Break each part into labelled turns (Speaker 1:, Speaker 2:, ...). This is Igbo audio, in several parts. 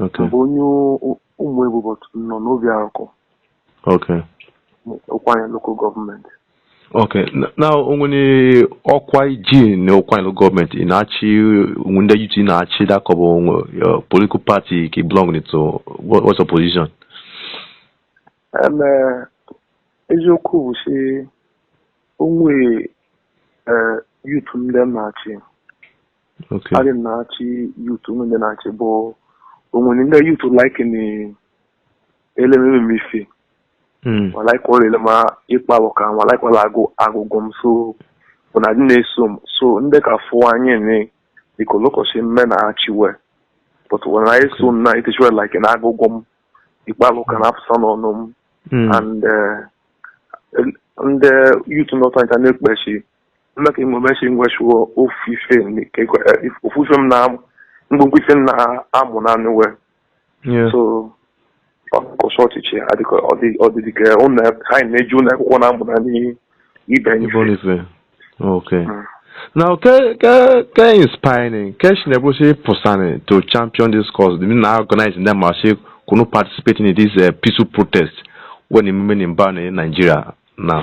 Speaker 1: Okay. M bụ
Speaker 2: onye Ụmụebu but nọ n'Obiaruku.
Speaker 1: Okay.
Speaker 2: Ụkwụanị local gọọmenti. Okay.
Speaker 1: Now o nwere ọkwa i ji na Ụkwụanị local gọọmenti ị na-achị ndị youth na-achị da ka ọ bụ uh, political party ka ị belong to what's your position?
Speaker 2: Uh, eziokwu bụ sị o nwe uh, youth ndị m na-achị
Speaker 1: Okay. Adị m
Speaker 2: na-achị youth o nwe ndị na-achị but o nwere ndị youth like na elememe m ife Mm. ma like ọla ele m ịkpa bụ ka ma like ọla agụ agụgụ m so bụ na dị na-eso m so ndị ka fụ anyị ne dịka olokọchi mme na achị we but when I so m na iteachi we like na agụgụ m ịkpa bụ ka na afụsa n'ọnụ m Mm. and eh, el- ndị youth nọta ncha na-ekpechi Ụlọ ka enwe mechi ngwa shuo ofu ife m- ka ekwe- eh, ofu ife m na-amụ ngwongwo ife m na-amụ na anụ wee Yeah. so ọkọsọ ọchịchị adịka ọ dị ọ dị dịka ụlọ ha na-eji ụlọ akwụkwọ na-amụ na ibe anyị Ibo Nife.
Speaker 1: Okay. Mm. Now, ke ke ke inspiring. Ke she never say pusani to champion this cause. They now organize in them say kunu participating in this uh, peaceful protest we na-eme eme ni banị Nigeria now.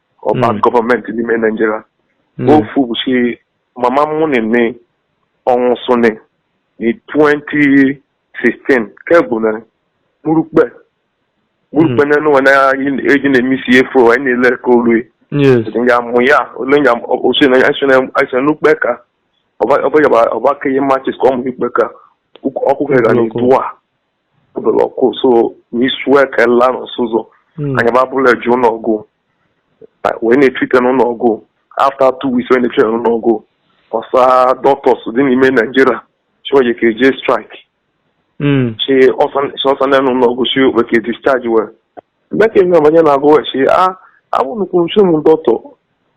Speaker 2: or bad Mm. gọọmenti n'ime Naịjirịa Mm. ofu bụ si mama mụnị ni ọ nwụsụnị na 2016 ke bụ na murukpe murukpe na nụwa na eji na-emisi fuel anyị na-ele ka olu Yes.
Speaker 1: nga mụ
Speaker 2: ya ole nga osi na anyị sịrị anyị sịrị n'ukpe ka ọba ọba yaba ọba ka ihe matches ka ọ mụ ukpe ka ọkụ ka ga Ọkụ. na-etu a obele ọkụ so n'isu eke la n'ụsụ ụzọ Mm. anyị ba bule je ụlọ ọgụ wee na-etrite n'ụlọ ọgụ after two weeks wee na-etrite n'ụlọ ọgụ ọsa doctors dị n'ime Nigeria chioye ka eje strike Mm. chi ọsa na n'ụlọ ọgụ chi okpe ka discharge we mgbe ka eme ọbanye na-agụ wee chi a abụ nukwu nchu m dọktọ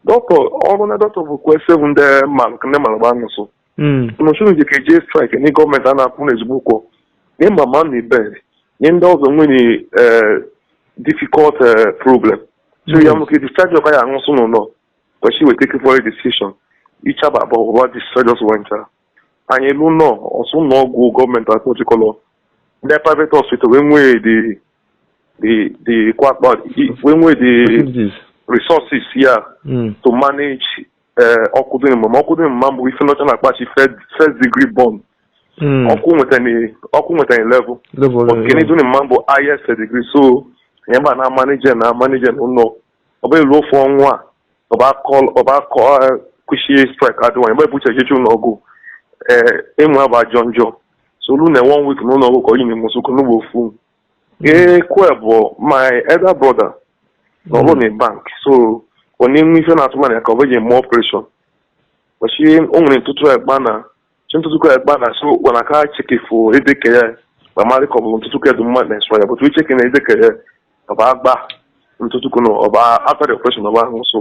Speaker 2: dọktọ ọrụ na dọktọ bụ kwe seven ndị mmanụ ndị mmanụ gbanụsụ hmm. mụchụrụ ji ka eje strike ndị gọọmenti a na-akwụ na ezigbo ụgwọ ni mama ni ibe ni ndị ọzọ nwere eh, difficult eh, problem so ya we ka hmm. discharge ọka ya aṅụsụ n'ụlọ kwesị weta take for a decision ichaba abụọ ụba discharge ọsụ wentara anyị elu nọ ọsụ ụlọ ọgwụ gọọmenti akpọchikọlọ ndị private hospital wee nwee the the the kwakpa wee nwee the resources ya hmm. to manage ee ọkụ dị mma ma ọkụ dị mma m bụ ife ndị ọcha na-akpọ shi first degree burn Mm. ọkụ nwetara ọkụ nwetara level Level but level. kene dị mma m bụ highest degree so ihe mba na-manage na-manage na ụlọ ọ bụ elu ofu ọnwa a ọ bụ akọ ọ bụ akọ eh, kwụsị strike adịwa mgbe ebuche echichi ụlọ ọgwụ ee ịmụ abụ ajọ njọ so olu na one week na ụlọ ọgwụ ka onye nwụsụ n'ụgbọ ofu Ee, Kwe bụ my elder brother na-alụ na bank so ọ na-enwe ife na atụmanya ya ka ọ bụ eji eme operation bụ shi o nwere ntụtụ e gbana shi ntụtụ ka e gbana so ọ na aka check ife edeke ya ma marị ka ọ bụ ntụtụ ka dị mma na esọ ya but e check na edeke ya ọ bụ agba ntụtụ ka na ọ bụ after the operation ọ ba nwụsụ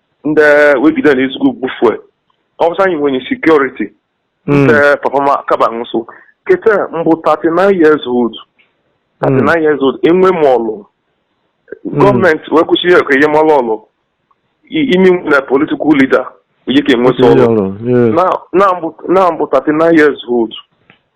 Speaker 2: ndị wegide na ezigbo gbufue ọ bụ sị anyị nwenye security ndị papa m akaba nwụsụ keta m bụ 39 years old 39 years old enwe m ọlụ gọọmenti wee kwu shi ya ka e nye m ọlụ i- imi nwe na political leader onye ka enweta ọlụ na na m bụ 39 years old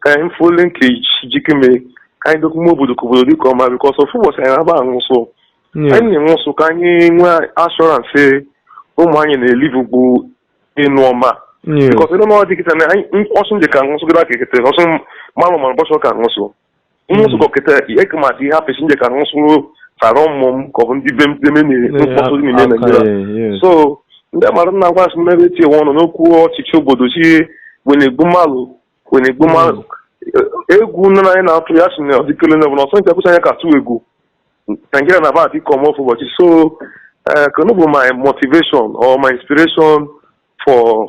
Speaker 2: ka anyị fụo linkage jikeme ka anyị dokwume obodo ka obodo dịka ọma because ofu ụbọchị anyị na-aba anwụsụ anyị na-anwụsụ ka anyị nwee assurance sị ụmụ anyị na-elivu bụ ịnụ ọma because ịnụ ọma dịkịta na anyị ọ sị nje ka anwụsụ kịta ka ekete ọsụ mmanụ ma ụbọchị ọ ka anwụsụ nwụsụ kọkịta eke maka ihe apịsị nje ka nwụsụ sara ụmụ m ka ọ bụ ndị be mpeme na-ekpọsụ n'ime Naịjirịa so ndị malụ na-agwa sị m ebe etinye ọnụ n'okwu ọchịchị obodo shi wa na-egbu mmadụ wa na-egbu mmadụ egwu nne na anyị na-atụ ya si na ọdịkele na ọbụla ọsọ nke akwụsị anya ka atụ egwu Nigeria na-aba dị ka ọma ofu ụbọchị so kenu bụ my motivation or my inspiration for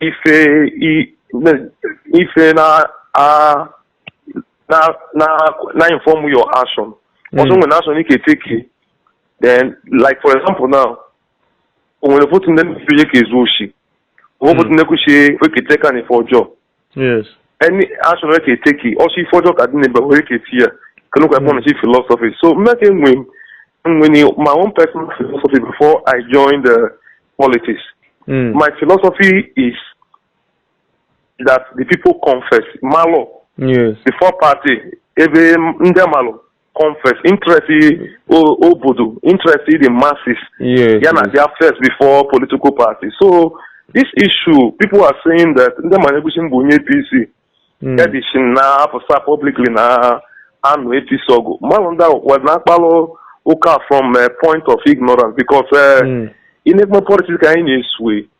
Speaker 2: ife ife na na na na inform your action ọ sị hmm. nwere action i ka take then like for example now o nwere fotu ndị mmepe ihe ka ezu oshi o fotu ndị kwuchie wekete ka n'ife ọjọọ
Speaker 1: yes any
Speaker 2: action i ka take ọ shi ife ọjọọ ka dị n'ebe wee ka eti ya kenu ka a kpọnụ shi philosophy so mmeke nwe nwe ni my own personal philosophy before i join the politics mm. my philosophy is that the people come first malụ yes before
Speaker 1: party
Speaker 2: ebe ndị malụ come first interest o- obodo interest the masses Yes. ya na yes. abịa
Speaker 1: first before
Speaker 2: political party so this issue people are saying that ndị malụ ekwu shi m bụ onye APC Mm. ya dị shi na-apụsa publicly na-anụ APC ọgụ malụ ndị ahụ wa na-akpalụ ụka from a point of ignorance because eh, Mm. in even politics ka anyị na-esue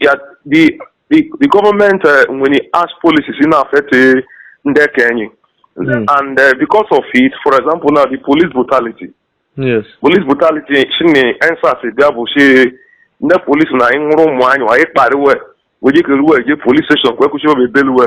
Speaker 1: Yeah,
Speaker 2: the the the government uh, when it has policies na-affect uh, nde ke anyị, mm. and uh, because of it, for example, now the police brutality. Yes.
Speaker 1: Police
Speaker 2: brutality. Shi na EndSARS bịa bụ shi nde police na-anwụrụ ụmụ anyị a kparị we wee je keru we je police station kwee kwụsị obi belu we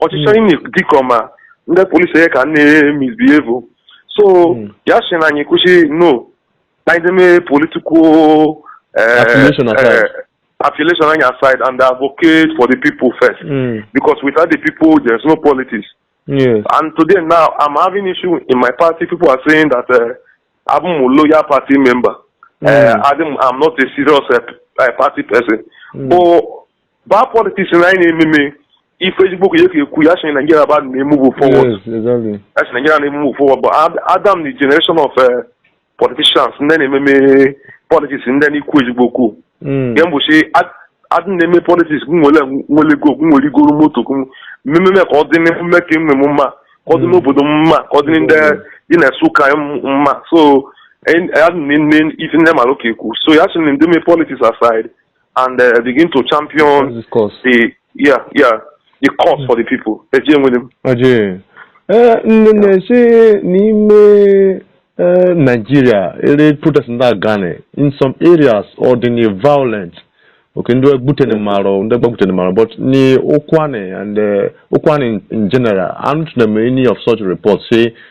Speaker 2: ọchịchị anyị na-ekwu dịka ma ndị police onye ka na-emisbehave so Mm. ya sị na anyị kwụsị no na anyị deme political eh, Affiliation
Speaker 1: aside. eh, affiliation anyị
Speaker 2: aside and advocate for the people first Mm. because without the people there's no politics Yes.
Speaker 1: and today
Speaker 2: now i'm having issue in my party people are saying that uh, i'm a loyal party member uh, Mm. I'm, I'm not a serious uh, uh, party person Mm. but Bad politics na anyị na-ememe ife ezigbo ka ya ka ekwu ya sị Nigeria aba na-emove forward. Yes, exactly. Ya
Speaker 1: sị Nigeria na-emove
Speaker 2: forward but Ad- Adam the generation of eh, politicians ndị na-ememe politics ndị na-ekwu ezigbo okwu. Mm. Ndị bụ sị ad- adị na-eme politics gị nwere nwere ego gị nwere igoro moto gị mmemme ka ọ dị n'emume ka enwe m mma ka ọ dị n'obodo m mma ka ọ dị ndị dị na Nsụka m mma so en- adị na-eme ife ndị mara ka ekwu so ya sị na anyị deme politics aside and uh, begin to champion This course. the yeah yeah the cause for the people. Eje nwere m. Ọjị. Ee, nne na-esi n'ime
Speaker 1: ee, Nigeria ere protest na-aga ni in some areas ọ dị ni violent okay ndị gbutene marụ ndị gbagbutene marụ but ni Ụkwanị and eh, Ụkwanị in general anụtụna m any of such reports say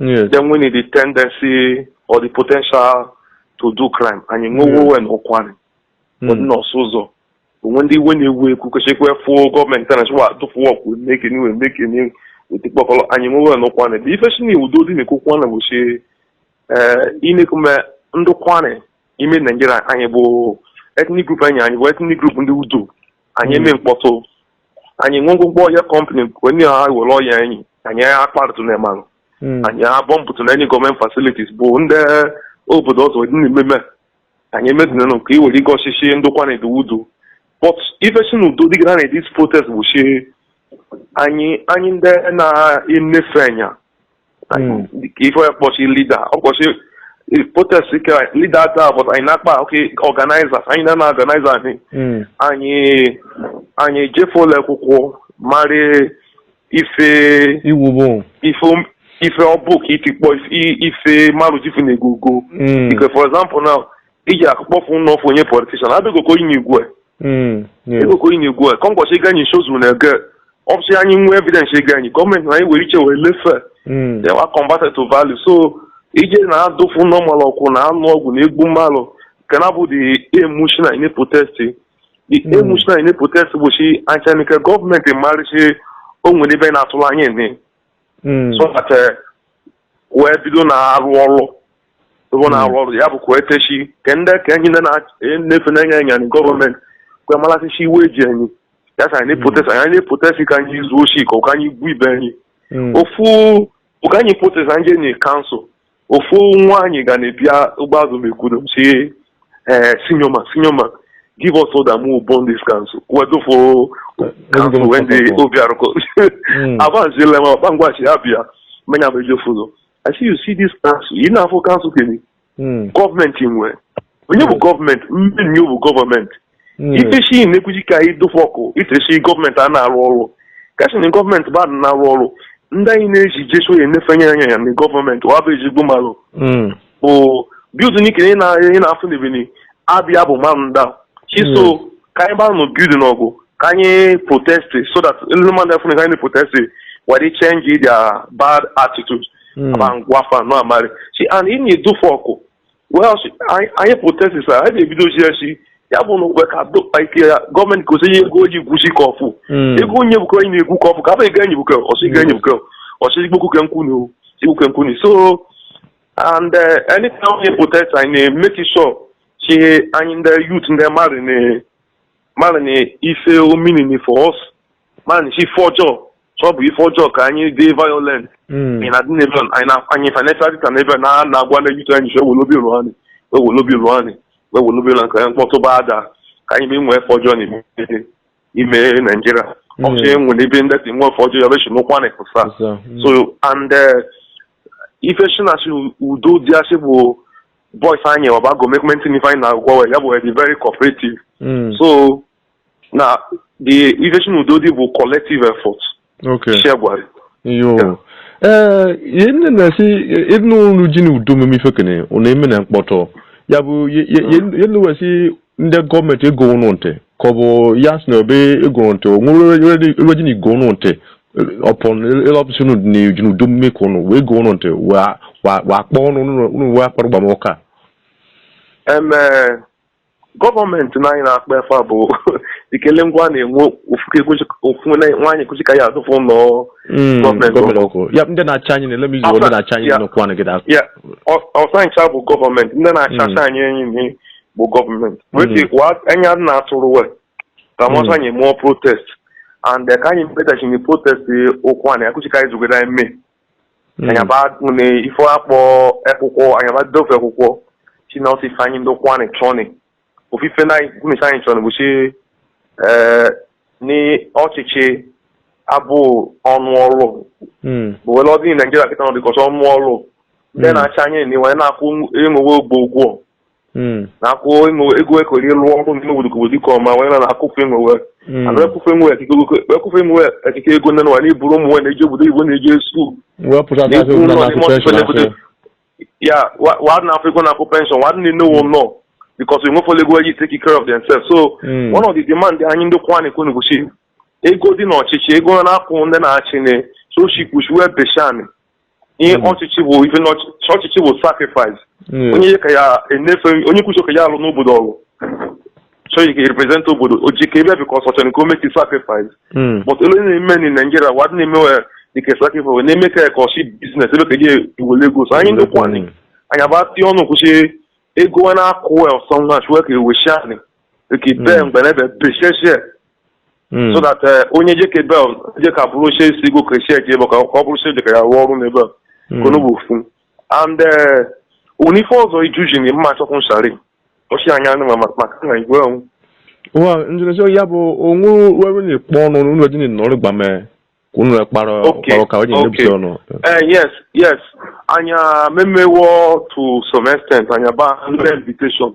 Speaker 2: Yes. Nde nweni the tendency or the potential to do crime. Anyị nwewo we n'Ụkwanị ọdịnọsụ ụzọ o nwe ndị iwe na-ewe ekwu kwesịkwa efu gọọmenti a na-achịkwa atụfuwa ọkwụ meke n'iwe meke n'iwe we tikpọkọrọ anyị nwewe we n'Ụkwanị but ife si na udo dị n'Ụkwanị bụ si inekume ndị Ụkwanị ime Naijiria anyị bụ ethnic group anyị anyị bụ ethnic group ndị udo anyị eme mkpọtụ anyị nwe ngwụgwọ oil company onye ha were oil anyị anyị akparịtụ na malụ Mm. anyị abọmbụtụ na any gọọmenti facilities bụ ndị obodo ọzọ dị na-ememe anyị emedinanụ ka i were gosi shi ndị Ụkwanị dị udo but ife si na udo dịgara na this protest bụ shi anyị anyị ndị na-enefe anya Hmm. ife onye kpọ shi leader ọ kpọ shi protest leader taa but anyị na-akpọ organizers anyị na-ana organize anyị hmm. anyị anyị jefe ụlọ akwụkwọ mara ife ọ bụ ife ife ọ bụ ka itikpọ ife marụ jifu na ego go hmm. because for example now iji akụ kpọfụ nna ofu onye politishan abegoko inye igwe Mm, yes. egoko inye igwe ka ngwọsị ịga anyị nsozu na ege ọ bụ sị anyị nwee evidence against gọọmenti na anyị were iche wee lefe Mm, they were converted to value so ije na-adụfu ụnọ mmalụ ọkụ na anụ ọgwụ na egbu mmalụ nke na bụ the emushi na ine protest the Mm. emushi na ine protest bụ si anchanike gọọmenti marị sị o nwere ebe na-atụrụ anya ene mm, so that eh, wee bido na-arụ ọrụ ebe ọ na-arụ ọrụ ya bụ ka ekechi ke ndị ka enyi ndị na-efe na-enye anya na gọọmenti kwe malị shi iwe eji enyi ya sa anyị protest anyị na-protest ka anyị zuo oshi ka ụka anyị gbuo ibe anyị ofu ụka anyị protest anyị enyi kansụl ofu nwa anyị ga na-ebia ụgbọazụ mekwudo si ee senior man senior man give us order make we burn this council we dufo council wey dey Obiaruku abanzile ma ọkpangwachi ya bịa menya bụ ejefuzo I see you see this council. You know, for council thing. Hmm. Government in where? When you government, when you government. Hmm. If you see in the Kujika, you do for call. If you see government na-arụ ọrụ. Cashing in government, ba na-arụ ọrụ. Ndị anyị na-eji jesu onye na-efenye anya ya na gọọmenti wa bụ ezigbo mmadụ bụ building nke ị na-afụ n'ebini abịa bụ mmadụ iso ka anyị gbaa building ọkụ ka anyị protesti so that ndị mmadụ afụ ka anyị protesti were change their bad attitude hmm. ma ngwa fa nọ amarị si anyị na-edufe ọkụ well anyị protesti sa anyị na-ebidozi ya si ya bụ na okwe ka ike ya gọọmenti gosi ihe ego oji gwusi ka ọfụ hmm. ego onye bụkọ anyị na-egwu ka ọfụ ka abụ ego enyi bụkọ ọsị ga enyi bụkọ ọsị ikpokwuke nkwunu ikpokwuke nkwunu so and uh, anytime onye protest anyị na-emeki sure shi anyị ndị youth ndị mmadụ na mmadụ na ife ọ meaning for us mmadụ na ife ọjọọ so ọ bụ ife ọjọọ ka anyị dị violent Mm. anyị na-adị n'ebe a, anyị na- anyị financial dịta n'ebe a, na na-agwa ndị youth anyị ji wee welobi ụlọ anyị wee welobi ụlọ anyị wee welobi ụlọ nke mkpọtụ ba ada ka anyị mee nwee ife ọjọọ na ime naijiria ọchị nwere ebe ndị dị nwe ife ọjọọ ya bechi n'ụkwa na-ekpesa So, mm. so and uh, ife shi na si udo dị asị bụ boys anyị abago maintain ife anyị na-agwa we ya bụ be very cooperative Mm. so na the ife shi na udo dị bụ collective effort Okay. isi agwara
Speaker 1: Yo. Ee, ihe nne na-esi ịnụ olu ji na udo meme ife kene ọ na-eme na mkpọtụ ya bụ ye- ye- ye- ye nne wee sị ndị government ego ụnụ ntị ka ọ bụ ya sị na o be ego ụnụ ntị o nwere ebe ji na igo ụnụ ntị upon ịlọpụsị ụnụ dị n'uju n'udu mmiri ka ụnụ wee go ụnụ ntị wee akpọ ụnụ ụnụ wee akpara gbamụka eme
Speaker 2: government na anyị na-akpa efe a bụ ikele ngwa a na-enwe ofu nwaanyị kwụsị ka ya adụfụ ụlọ government ọkụ ya ndị na-achị
Speaker 1: anyị na-ele m izu ndị na-achị anyị Ya. n'okwu anụ gị da ya
Speaker 2: ọsa ncha bụ government ndị na-achị anyị enyi na bụ government wete wa anya na atụrụ we ka mọsọ anyị mụọ protest and eh, ka anyị mepụtachiri protest okwu anyị akụchika anyị zugoro anyị mee anyị aba na ife akpọ akwụkwọ anyị aba dofe akwụkwọ si na ọsịsa anyị ndị Ụkwụanị chọni ofu ife na gụmisi anyị chọni bụ si eh, n'ọchịchị abụ ọnụ ọrụ bụ wele ọdị Nigeria kịta nọ dịkọta ọnụ ọrụ ndị na-achị anyị na iwe na-akwụ enwe we ogbo ụgwọ hmm. na-akwụ ego ekori lụọ ọrụ n'ime obodo ka obodo dịka ọma wee na-akwụfe enwe we ana ekwufe nwe ekwufe nwe ekike ego nne nwa n'iburu ụmụ nwe na-eji obodo igbo na-eji esu ya wa na afọ ego na-akwụ pension wa nne nnewo nọ because we nwefọla ego eji take care of themselves so hmm. one of the demand anyị ndị Ụkwụanị kwuni bụ shi ego dị n'ọchịchị ego na-akwụ ndị na-achị ne so she push wee beshani ihe hmm. ọchịchị bụ ife ọchịchị bụ sacrifice hmm. onye ka ya enefe onye kwuchi ka ya alụ n'obodo ọlụ chọghị ka represent obodo oji ka ebe because ọ chọ ka o make sacrifice hmm. but elu na-eme na Nigeria wa dị na-eme we dịka sacrifice na-eme ka ka ọ shi business ebe ka je ewele ego so anyị ndị Ụkwụanị anyị aba tie ọnụ kwushi ego na-akwụ wel sọnwa chụwe ka eweshi anyị ka ibe mgbe na ebe besheshie Mm. so that eh, onye jeke ebe a jeka bụrụ oche si go kreshia ji ebe ka ọ bụrụ oche jeka ya rụọ ọrụ n'ebe a Mm. kono bụ ofu and eh, o nwe ife ọzọ ijuji na mma achọkwụ nshari ọchị anya anụ ma maka na igwe ọnwụ wa
Speaker 1: njinesi ya bụ onwe wewe ni kpọ ọnụ n'ụlọ eji ni nọrọ gba mee ka unu kpara Okay, kpara ka o ji okay. nebute ọnụ Eh, yes yes
Speaker 2: anyị memewo to some extent anyị aba another invitation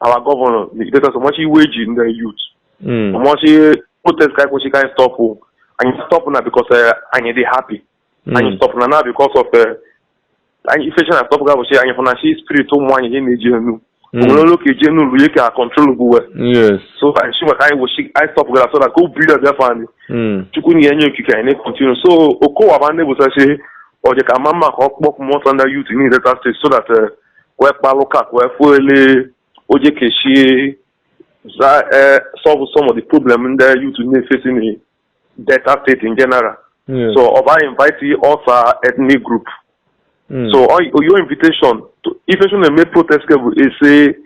Speaker 2: our governor get us much wage in the youth mm. much eh, protest ka kwesị ka anyị stop anyị stop na because eh, anyị dị happy mm. anyị stop na na because of eh, anyị ife cha na stop ga bụ shi anyị fụ na chi spirit ụmụ anyị ihe na-eje enu mm. o nwere ụlọ ka eje enu ụlọ ihe ka control bụ we so
Speaker 1: anyị si maka
Speaker 2: anyị wụchi anyị stop gara so na ka obi ya bịa fani chukwu na ya nye okike anyị na-continue so Okowa ma ndị bụsachi ọ dị ka mma mma ka ọ kpọpụ mọtọ ndị youth ni Delta State so that kwe kpalụ ka kwe fuele oje keshi za eh, solve some of the problem ndị youth na-eface na Delta State in general Yes. so ọ ba invite ọsa ethnic group Mm. so ọ- your invitation to invitation na-eme protest ke bụ ese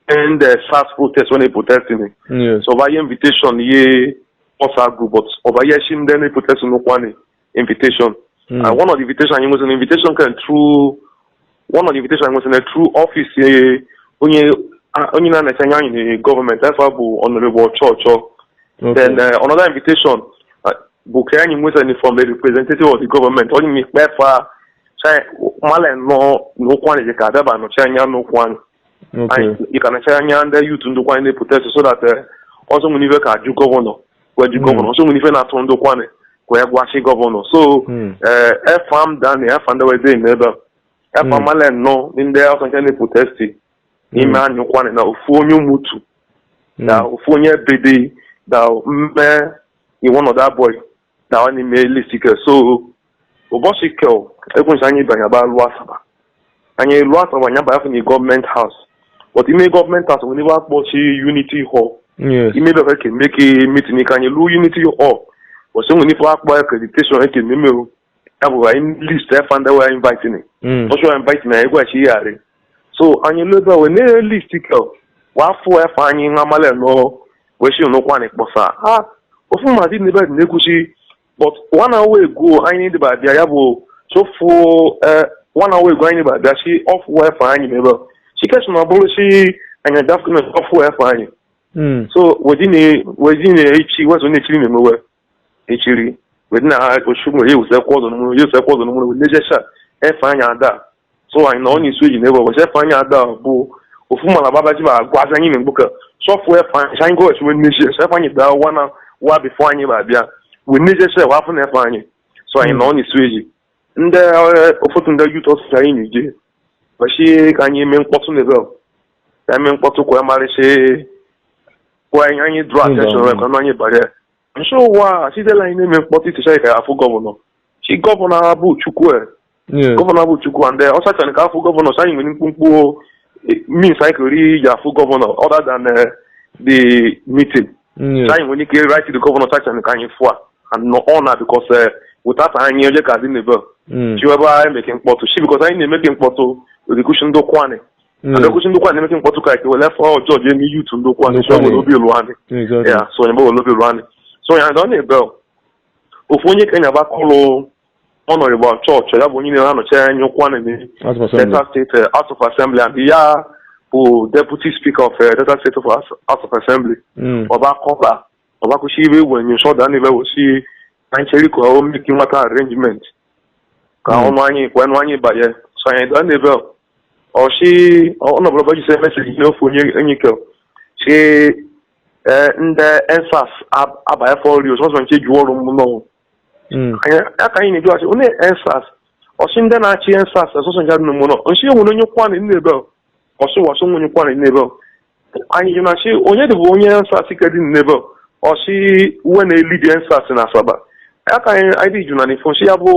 Speaker 2: end eh, SARS protest when they protest ni Yes. so ọ ba ye invitation ye ọsa group but ọ ba yeshi ndị na-protest n'Ụkwanị invitation hmm. and one of the invitation anyị nwesịrị invitation came through one of the invitation anyị nwesịrị through office eh, onye onye na-anọchi anya anyị na gọọmenti afọ bụ Honourable Ochor Ochor then eh, another invitation eh, bụ ka anyị nwesịrị from a representative of the government onye na-ekpe efa male nọ n'Ụkwanị ka adaba anọchi anya n'Ụkwanị ị ka nọchi anya ndị youth ndị Ụkwanị na-eprotest so that ọsa nwere ibe ka ajụ gọvanọ wee ji gọvanọ so nwere ife na-atụ ndị Ụkwanị wee gwachi gọvanọ so ee efa m dani efa ndị wee dị n'ebe a efa male nọ ndị afọ nke na-eprotest n'ime anyị Ụkwanị na ofu onye Umutu na ofu onye Ebedei na mme and one other boy da n'ime list ke so ụbọchị ke e kwu so anyị banye ba luo Asaba anyị luo Asaba anyị banye afọ na Government House but ime Government House nwere ebe a kpọ Unity Hall ime ebe ka eme ka meeting ka anyị luo Unity Hall ọsọ nwere ife akpọ accreditation eke mmemeo ya bụ anyị list efa ndị wa invite ni ọsa wa invite na anyị gwachi ihe arị so anyị luo ebe a wee na list ke wa afụ efa anyị nwa mmalị nọ wee shi n'Ụkwanị kpọsa ha ofu mmadụ n'ebe na-ekwuchi but one hour ago anyị deba bịa ya bụ sị ọ fụ eh, one hour ago anyị ba bịa sị ọ fụ efa anyị mebe chikes na ọ bụrụ si anyị dafkụme ọ fụ efa anyị Mm. so we dị na-echi wezo na-echiri na-emewe echiri we dị na ha ochu nwere ewusekwa ọzọ n'ụmụrụ ewusekwa ọzọ n'ụmụrụ we dị na-ejecha efa anyị ada so anyị na onye isi oji na-egwe we sị efa anyị ada bụ ofu mala babaji ba agwa aza anyị na-egbu ka sị ọ fụ efa anyị anyị gọọchi wee nneji ese efa anyị daa wa na wa before anyị ba bịa wee nneji ese wa afụ na efa anyị so anyị na onye isi oji ndị ụfọdụ ndị youth ọsụsụ anyị na-eje wesị ka anyị mee mkpọtụ na ebe ka anyị mee mkpọtụ kwa marịsị kwa anyị anyị draw attention wee ka anyị bara Nso ụwa sitela anyị na-eme mkpọtụ itichara ka afụ gọvanọ chi gọvanọ abụ Chukwu e. Yes. gọvanọ abụ Chukwu and eh, ọ sachara ka afụ gọvanọ sị anyị nwere mkpụmkpụ eh, means anyị kere iji afụ gọvanọ other than eh, the meeting Yes. sị anyị nwere ike write the gọvanọ sachara ka anyị fụa and nọ ọ na because eh, without anyị onye ka dị n'ebe Mm. chiwebe anyị meke mkpọtụ shi because anyị na-emeke mkpọtụ rikushi ndị Ụkwanị Mm. abekwusi ndokwa anyị emeke mkpọtụ ka ike wele fọ ọjọọ ji eme youth ndokwa anyị so Ndokwa nwere anyị. obi ilu anyị Exactly. ya so onye mgbe wele obi ilu anyị so onye anyị ọ na-ebe ọ. ofu onye kenya ba kọlụ Honourable Ochor Ochor ya bụ onye na anọchi anya Ụkwụanị n'ime House of Assembly. Delta State uh, House of Assembly and ya bụ Deputy Speaker of uh, Delta State of House House of Assembly Mm. ọba kọba ọba kwụsị ibe igwe nye nsọ da n'ebe ọ sị anyị cheri ka o meki nwata arrangement ka ọnụ anyị kwa ọnụ anyị banye so anyị da n'ebe ọ sị ọnọbụla ọba jise message ihe ofu onye enyi ke si ndị EndSARS abanye fọri ọsọsọ nche juwọrụ m nọ Mm. Anyị- ya ka anyị na-eji ọchị onye EndSARS ọchị ndị na-achị EndSARS ọsọsọ ncha dị n'ụmụnọ nchi enwere onye Ụkwụanị n'ebe ọ ọsụ ọsụ onye Ụkwụanị n'ebe ọ anyị jụ na chi onye dị bụ onye EndSARS ike dị n'ebe ọ ọchị uwe na-elidi EndSARS na Asaba ya ka anyị anyị dị jụ na n'ifo nchi ya bụ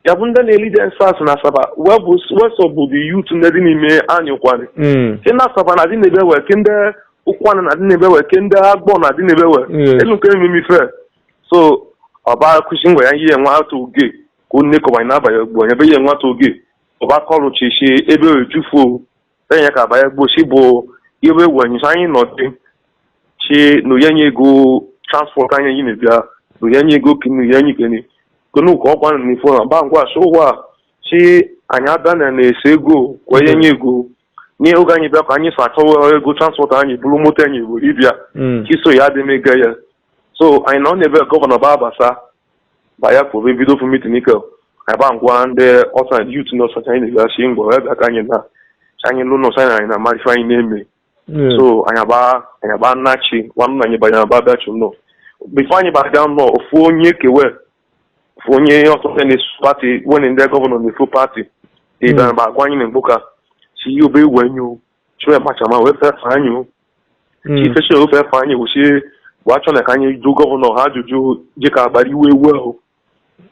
Speaker 2: ya bụ ndị na-elidi EndSARS na Asaba wee bụ wesọ bụ the youth ndị dị n'ime anyị Ụkwụanị Mm. ke na Asaba na dị n'ebe wee ke ndị Ụkwụanị na dị n'ebe wee ke ndị Agbọ na dị n'ebe wee Yes. elu nke ememe ife so ọba kwụsị ngwa ya ihe nwata oge ka onye kọbanye n'abalị ugbu onye be ihe nwata oge ọba kọlụ chichi ebe ojufuo enye ka baya gbosi bụ iwe wenyisa anyị nọdị chi na o ye anyị ego transport anyị yi na-ebịa na o ye anyị ego ki na o ye anyị ikeni kenu ka ọkwa na ifo na ba ngwa so ụwa chi anyị abịa na na-ese ego kwa enye ego nye oge anyị bịa ka anyị so achọwa ego transport anyị bụrụ moto anyị bụ ịbịa Mm. chi so ya adị m ego ya so anyị nọ n'ebe gọvanọ ba abasa baya ka obe bido ofu meeting ike ka ba ngwa ndị ọsa youth na ọsacha anyị na-egachi ngwa ya bịa ka anyị na ka anyị lụ n'ọsa anyị na amarị ife anyị na-eme so anyị aba anyị aba nachi nwanne anyị banye aba bịa chụ nọ before anyị baga nọ ofu onye kewe ofu onye ọsọsọ na-eso party wene ndị gọvanọ na-eso party ịbịa ba agwa anyị na mgboka si ihe obe iwe nyo chwe machama wee fefe anyị o Mm. chi feche wee fefe anyị wụchi bụ achọ na ka anyị jụ gọvanọ ha ajụjụ dị ka agbara iwe ewu ahụ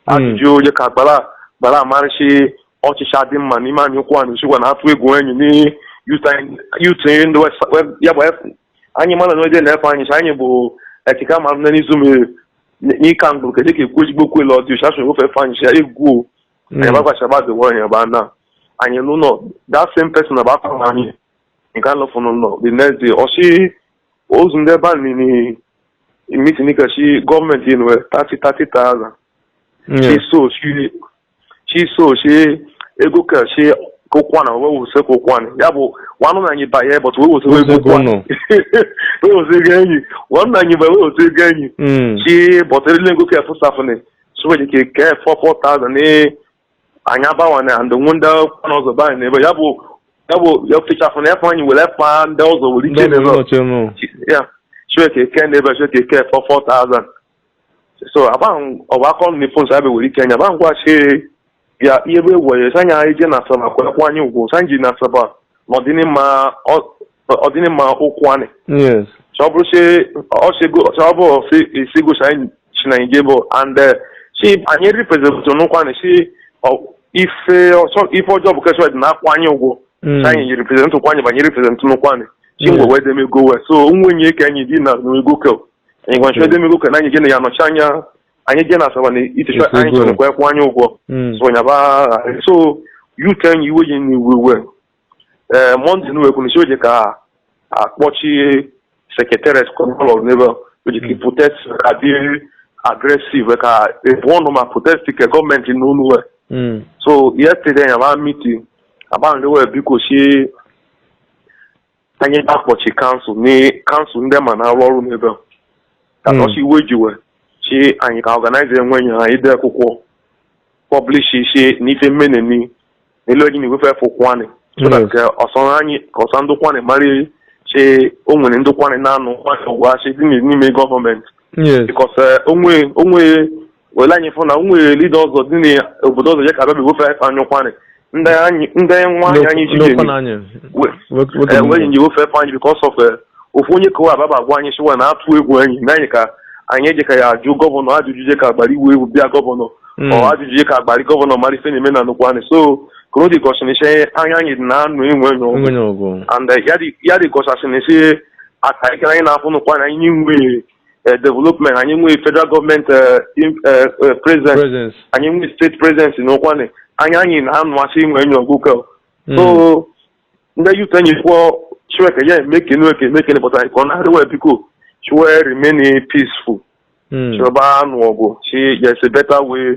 Speaker 2: ajụjụ dị ka agbara gbara amarịsị ọchịchị adị mma n'ime anị Ụkwụanị sikwa na atụ egwu enyi na youth ndị West- West- ya bụ F- anyị mara na onye na-efe anyị sị anyị bụ ekike amarụ na n'izu mere n'ịka mgbụrụ kedu ka ekwu ezigbo kwele ọdị ụcha chọrọ ofe efe anyị sị ya egwu o Mm. anyị gbagwa shaba dị wọhịa ebe a na anyị n'ụlọ that same person na bakwa na anyị nke anọ fụ n'ụlọ the next day ọsị ozu ndị ebe a nini meeting kachi government inwe 30,000 Mm. chi so chi chi so chi ego kachi kokwana wee wuse kokwana ya bụ nwanụ na anyị banye but wee wuse Wuse ego nọ. wee wuse ego enyi nwanụ na anyị banye wee wuse ego enyi Mm. chi bọtịrịla ego ka fụsafụnị so nwere ike kee four four thousand ee anyị abawanye and nwe ndị kwana ọzọ be anyị n'ebe ya bụ ya bụ ya fechafụ na efe anyị were fa ndị ọzọ were iche n'ebe ọchị nụ ya chineke eke n'ebe chineke eke four four thousand so abaghị ọba akọ nri phone sa ebe were ike anya abaghị ngwa chi ya ihe bụ egwu ya sanya ije na Asaba kwekwa anyị ụgwọ sanji na Asaba na ọdịnịma ọ- ọdịnịma Ụkwụanị yes sọ
Speaker 1: bụrụ si
Speaker 2: ọsịgo sọ bụ si isigo si anyị si na ije bụ and eh, si anyị represent n'Ụkwụanị si ọ- ife ọsọ ife ọjọọ bụ kesọ dị na akwụ anyị ụgwọ Mm. si anyị represent Ụkwụanị bụ anyị represent n'Ụkwụanị si Yeah. ngwe wee demego wee so nwenye ka anyị dị na n'ego ke anyị gwa nchọ demego ke na anyị jeni ya nọchi anya anyị jee na Asaba na iticha Yes, anyị ego. chọrọ kwekwa anyị ụgwọ Mm. so nyaba agha. so you can iwe ji na iwe iwe ee Monday na wekwu nsi oje ka akpọchi secretariat kọnọlọ n'ebe oji ka protest adị aggressive ka ebu ọnụ ma protest ke gọọmenti nụ onu we Mm. so yesterday nyaba meet agbanwe we biko si anyị ba akpọchi council na council ndị ma na-arụ ọrụ n'ebe a. ka Hmm. nọsi iwe jiwe chi anyị ka organize onwe anyị ya ide akwụkwọ publish shi na ife mmeneni n'elu eji na-ewefefe Ụkwụanị so that Yes. ka ọsọ anyị ka ọsọ ndị Ụkwụanị mara chi o nwere ndị Ụkwụanị na-anụ Ụkwụanị ọgụ chi dị n'ime gọọmenti yes because onwe onwe were anyị fụ na o nwere leader ọzọ dị n'obodo ọzọ ya ka abịa begofe anyị anyị Ụkwụanị ndị anyị ndị nwa anyị anyị ji N'okwu jeni na anyị. we- Nwoke- nwoke eh, bụ wee nwa. nyi ofe efe anyị because of eh, ofu onye kowa ababa agwa anyị sịwa na atụ egwu anyị na anyị ka anyị eje ka ya ajụ gọvanọ ajụjụ je ka agbara iwu egwu bịa gọvanọ Mm. ọ ajụjụ je ka agbara gọvanọ mara ife na-eme na Ụkwụanị so koro dị gọsịnịshe anya anyị dị na anụ onwe anyị Onwe anyị ọgụ. and eh, ya dị- ya dị gọsasịnịshe aka ekere anyị na-afụ n'Ụkwụanị anyị nwe eh, development anyị nwee federal government eh, in- eh, eh, presence presence anyị nwee state presence na Ụkwụanị anyị anyị na-anụ asị onwe anyị ọgụ kọ so ndị youth anyị kwuo shi we ka ya emekenu eke emekenu pụta anyị ka ọ na-arịọ wa biko shi we remain peaceful Mm. shi we ba anụ ọgụ shi there's a better way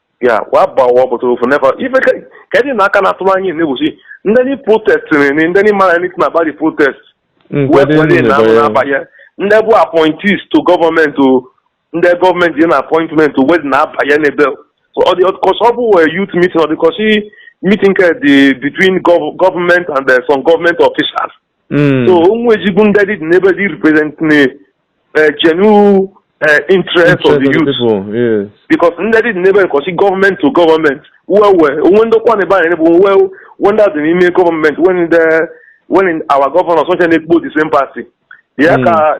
Speaker 2: ya wa ba wa bụta ofu neva ife kedụ na aka na-atụrụ anyị na-egbochi ndị ni protest ni ndị ni mara anything about the protest wepụdị na ahụ na-abanye ndị bụ appointees to government ndị government dị na appointment wedi na-abanye n'ebe ọ dị kọ sị ọ bụ wee youth meeting ọ dị kọ sị meeting dị between government and some government officials Mm. so onwe ezigbo ndị dị n'ebe dị represent na eh, genuine eh, interest of the Interest youth of the people, yes. because
Speaker 3: ndị dị n'ebe
Speaker 2: kọsi government to government we we onwe ndị ọkwa na-ebe anyị bụ well when that dị n'ime government when the when our governors ọcha na-ekpo the same party ya Mm. ka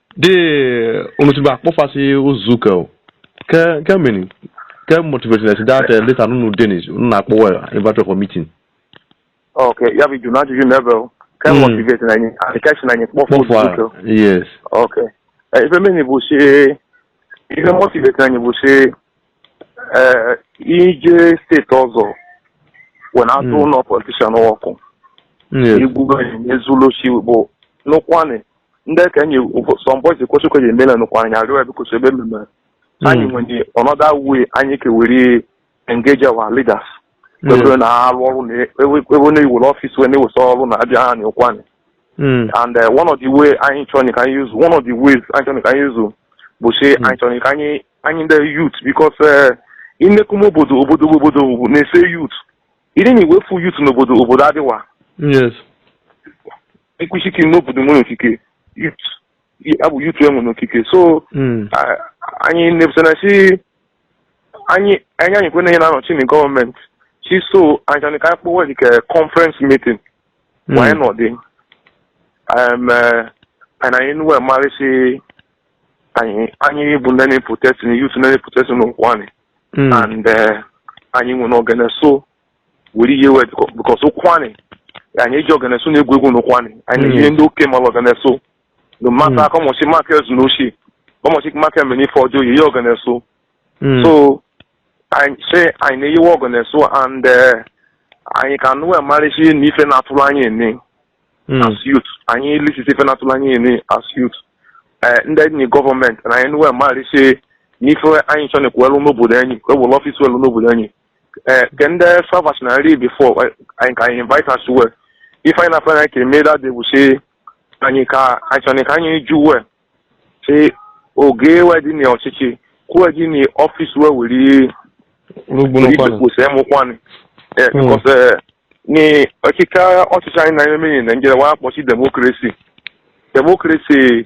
Speaker 3: de unu ti ba kpọfasị nzukọ o ke ke meni ke motivate esi dat leta nunu denis unu na-akpọwa invite for meeting ok
Speaker 2: ya bụ jụrụ ajụjụ na ebe ke Mm. motivate na anyị adịkachi na anyị kpọfụ kpọfụ a nzukọ yes
Speaker 3: ok
Speaker 2: Eh, ife meni bụ si ife motivate na anyị bụ si eh, ije state ọzọ wee na-adu Mm. ụnọ politician ọkụ yes igwu anyị n'ezulu si bụ n'Ụkwụanị ndị ka enyi some boys kwesịkwa ji emela n'Ụkwụanị arịọ ya biko so ebe mmemme anyị nwere another way anyị kewere engage our leaders kwebere na arụ ọrụ na ebe na-ewere office wee na-ewesa ọrụ na abịa n'Ụkwụanị Mm. and uh, one of the way anyị chọrọ ka anyị use one of the ways anyị chọrọ ka anyị use bụ si anyị chọrọ ka anyị anyị ndị youth because uh, inekum obodo obodo obodo bụ na-ese youth ịdị na iwefu youth n'obodo obodo adịwa Yes. ekwuchiki n'obodo nwere ikike abụ youth enwe n'ikike so hmm. anyị na-ebusana si anyị anyị anyị kwena ihe na-anọchi na government si so anyị chọrọ ka anyị kpọwa like conference meeting hmm. wanye n'ọdị eh, anyị na anyị nwe marịsị anyị anyị bụ ndị na-protest na youth na-protest n'Ụkwụanị hmm. and eh, anyị nwere ogene so were ihe wet because Ụkwụanị anyị eji ogene so na-egwu egwu na Ụkwụanị anyị ihe ndị oke mara ogene so no mata aka ọmọchị maka ezu na oshi ọmọchị maka emere ife ọjọọ ihe ogene so so anyị sị anyị na-eyiwe ogene so and anyị ka nụ emarịsị na ife na-atụrụ anyị ene as youth anyị lisisi ife na-atụrụ anyị ene as youth ndị enyi government na anyị nwe emarịsị n'ife anyị chọ na-ekwuelu n'obodo anyị kwewere office welu n'obodo anyị eh, ke ndị sọvas na nri before anyị ka anyị invite us well ife anyị na-afọ anyị ka eme that day bụ si anyị ka anyị chọrọ ka anyị jụ we si oge we dị na ọchịchị kwuo gị na office we were rugbu n'Ụkwụanị kwụsị ime Ụkwụanị Eh, Mm. because eh, ni ọchịchị ọchịchị anyị na-eme na Nigeria wa akpọchi democracy democracy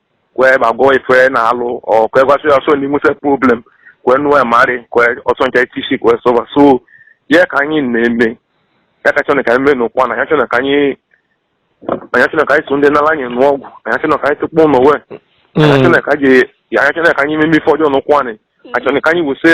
Speaker 2: kwe ma gụọ ife na alụ ọ kwe gwasị ya so n'inwe se problem kwe nụọ marị kwe ọsọ nke tisi kwe solve a so ya ka anyị na-eme ya ka chọrọ ka anyị mee n'Ụkwụanị anyị achọrọ ka anyị anyị achọrọ ka anyị so ndị n'ala anyị nụọ ọgụ anyị achọrọ ka anyị tụkpọ ụnọ we anyị achọrọ ka anyị anyị achọrọ ka anyị meme ife ọjọọ n'Ụkwụanị achọrọ ka anyị wụsị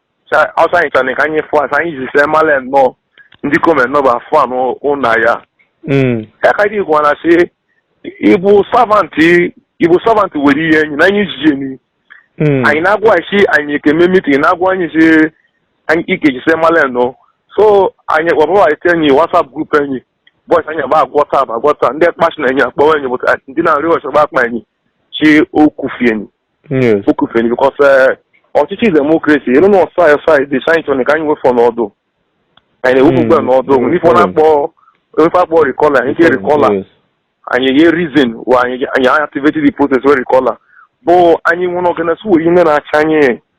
Speaker 2: ọsọ anyị chọrọ ka anyị fụ asa anyị ji see mala nnọọ ndị government nọ bụ afọ anọ ụna ya ekadi gwa na sị ịbụ servant ịbụ servant were ihe enyi na anyị ji enyi anyị na-agwa isi anyị ekeme meeting na-agwa anyị si anyị ike ji see mala nnọọ so anyị kpọbụrụ anyị enyi WhatsApp group enyi boys anyị agba agwọta agwọta ndị kpasi na enyi akpọwa enyi but ndị na-arị ọchọ gba akpa enyi chi okufieni Yes. okufieni because ọchịchị democracy elu na ọsa ọsa dị saịntọn ka anyị nwefọ n'ọdụ anyị na-ewepụ ugbu a n'ọdụ Mm, ife ọ na-akpọ ife akpọ recall anyị ga recall a Yes. anyị nye reason why anyị anyị activate the process we recall a bụ anyị nwụrụ ọgana su wee ihe na-acha anyị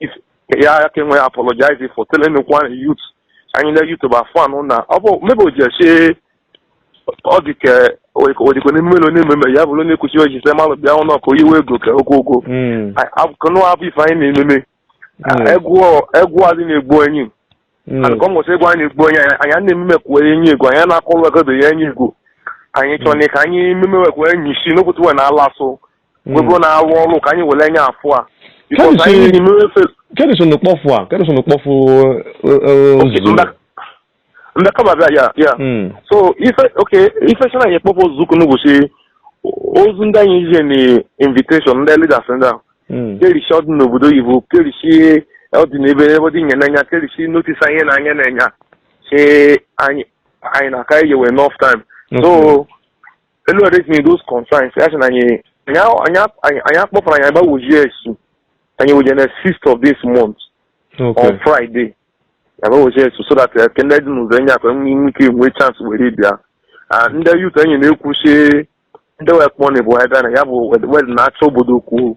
Speaker 2: if ya ya ka enwe apologize for telling me one youth anyị na youth bụ afọ anụ na ọ bụ maybe o ji esi ọ dị ka odikwe n'ime ụlọ na-ememe ya bụrụ na-ekwuchi oji sị malụ bịa ụnọ ka oyiwe ego ka okwu okwu Mm. akụnụ abụ ife anyị na-ememe Mm. egwu egwu adị na-egbu enyi Mm. and ka ọ nwụsị egwu anyị na-egbu onye anyị anyị na-ememe kwuo enyi egwu anyị na-akọrọ egodo ya enyi egwu anyị chọrọ na ka anyị ememe wekwa enyi isi n'okwutu wee na-ala asụ webụrụ na arụ ọrụ ka anyị were anya afụ a Because Kemisi- anyị na-eme efe
Speaker 3: kedu so na kpọfụ a kedu so na kpọfụ
Speaker 2: ozugbo Mba- mba kama bịa ya ya Mm. so ife oke ife chana anyị kpọpụ ozu ukwu n'ụbọchị ozu ndị anyị ije na invitation ndị leaders ndị ahụ Mm. kerishi ọdị n'obodo oyibo kerishi ọdị n'ebe ebe dị nye n'anya kerishi notice anyị na anya na-enya si anyị anyị na aka iye we enough time so elu raising those concerns ya sị na anyị anyị a- anyị a- anyị- anyị akpọpụrụ anyị agbawojie esu anyị wojie na sixth of this month Okay. on friday agbawojie esu so that eh, ka ndị dị n'ụzọ enye akwa enwe inwe ike nwee chance were bịa Ah, ndị youth enyi na-ekwusi ndị wekpọni bụ ebe na ya bụ wed na-achọ obodo kwuo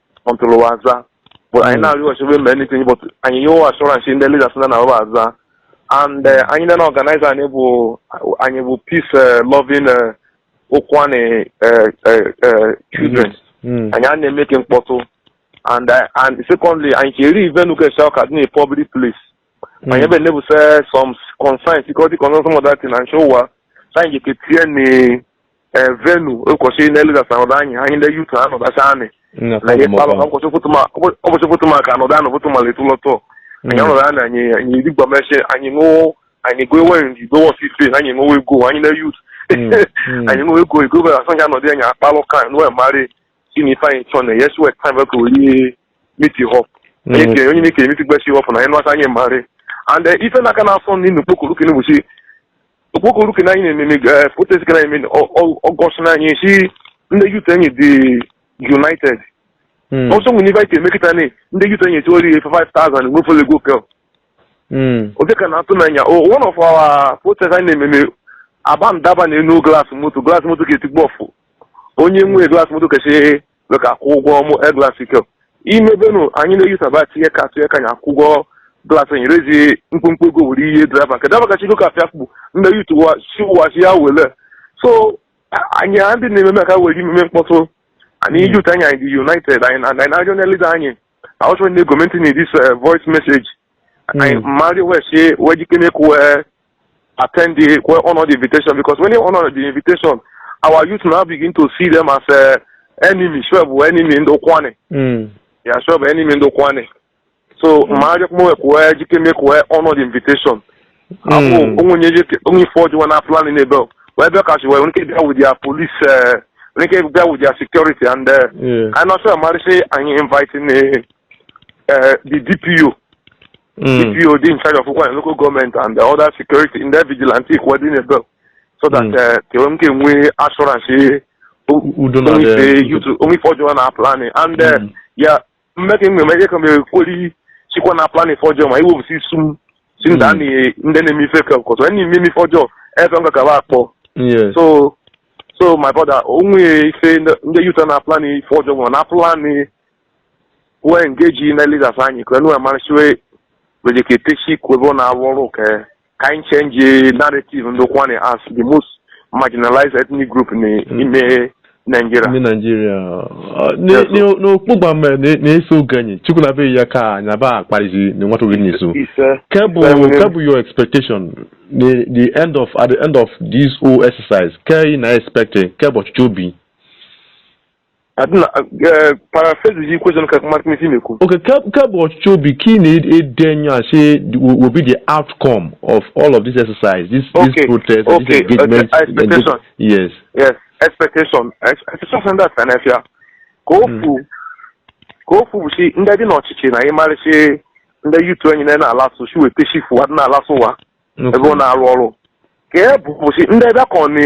Speaker 2: until wa aza but anyị na-arịọ ọchịbe mgbe anything but anyị nye wa assurance ndị leaders na na wa aza and eh, anyị na organize anyị bụ anyị bụ peace eh, loving eh, Ukwuani eh, eh, eh, children Mm. anyị a na-eme ka mkpọtụ and eh, and secondly anyị cheri venue ka esi ọka dị na public place anyị ebe nebuse some concerns security concerns some other thing and show wa so anyị ga-eketie na eh, venue ụbọchị na leaders anọdụ anyị anyị ndị youth anọdasa anyị na ihe kpalụ ụbọchị foto ma ụbọchị foto ma ka anọdụ anọ foto ma letu lọtọ anyị anọdụ anyị anyị anyị digba meshe anyị ṅụọ anyị gụọ enweghị ndị gụọ ọsị ife na anyị ṅụọ ego anyị na youth Mm, mm. anyị ṅụọ ego ego bere asọ anyị anọdụ anyị akpalụ ka anyị wee marị si na ife anyị chọ na yes we time ka oyi meet up onye Mm. ke- onye na-ekere meet gbachi up na anyị nụwata anyị marị and eh, ife na-aka na-asọ nri n'ukpokoro ka n'ụbọchị okpokoro ke na anyị na-ememe eh, protest ka na-eme ọ- ọ- August na anyị si ndị youth anyị dị united Mm. ọsọ nwere ife anyị eme kịta na ndị youth anyị eti ori 5000 nwefere ego kel Mm. ofe ka na-atụ n'anya O- one of our protest anyị na-ememe aba ndaba na enu glass moto glass moto ka etigbu ọfụ onye nwee glass moto kasị na ka akwụ ụgwọ mụ e glass ike imebenu anyị na-eyusaba tinye ka atụnye ka anyị akwụ ụgwọ glass anyị raise mkpụmkpụ ego were ihe driver nke driver kacha ego ka afịa kpụ ndị youth siwachi ya wele so a- anyị a ndị na-ememe ka were imeme mkpọtụ anyị youth anyị anyị dị united anyị na- anyị na-arịọ na leader anyị also ndị gọọmenti na this voice message anyị mmadụ wee sie wee jike mee kwe attend the well honor the invitation because when you honor the invitation, our youth now begin to see them as uh, enemy, si wee bụ enemy ndị Ukwuani. Mm. Yeah, si wee bụ enemy ndị Ukwuani. So, ma arịọ kpọọ ekwe jike mee kwe honor the invitation. Abụ Mm. onwe onye jike onwe ife ọjọọ na planị n'ebe wee bịa kachi wee nwe ike bịa with their police uh, nwe ike bịa with their security and uh, Yeah. I'm not sure marị si anyị inviting uh, uh, the DPO Mm. DPO dị in charge of Ukwuani local government and the other security ndị vigilante ikwe dị n'ebe so that Mm. eh, ka enwe m ka enwe assurance U- udo na onwe dị- ife youth- onwe ife ọjọọ na planị and eh, Mm. ya mmeka enwe m ejeka m ekweli chikwa na planị ife ọjọọ ma iwepụsị isu m si ndị a Mm. na- ndị na-eme ife ka ọkọtọ ndị na-eme ife ọjọọ ebe m gagaba akpọ Yes. so so my brother onwe ife ndị- ndị youth a na planị ife ọjọọ ma na planị wee engage ndị leaders anyị ka enu amarị si wee rejeketesi kwebe na arụ ọrụ ka ka anyị change narrative ndị Ukwuani as the most marginalized ethnic group n'ime Nigeria. ndị naijiria Yes, sir.
Speaker 3: n'okpugba mere na-eso oge anyị chukwu na be ya ka anya ba akparizi na nwata oge n'izu Ise. Ke bụ, Seven. Ke bụ, your expectation, the the end of at the end of this whole exercise, ke ị na expecting ke bụ uche obi.
Speaker 2: adịna eh, paraphrase the question ka mmadụ isi mekwu Okay, ke ke bụ uche
Speaker 3: obi ka ị na-ele enya si the- will will be the outcome of all of this exercise, this Okay, this protest, okay, this engagement. okay, and this- expectation.
Speaker 2: yes. yes
Speaker 3: expectation
Speaker 2: Ex- expectation dị asa n'afịa ke ofu ke ofu bụ si ndị dị n'ọchịchị na ịmarị si ndị youth anyị na na-alasụ si weta shifu adị na-alasụ ụla ebe ọ na-arụ ọrụ ke ebụọ bụ si ndị bịa ka ọ na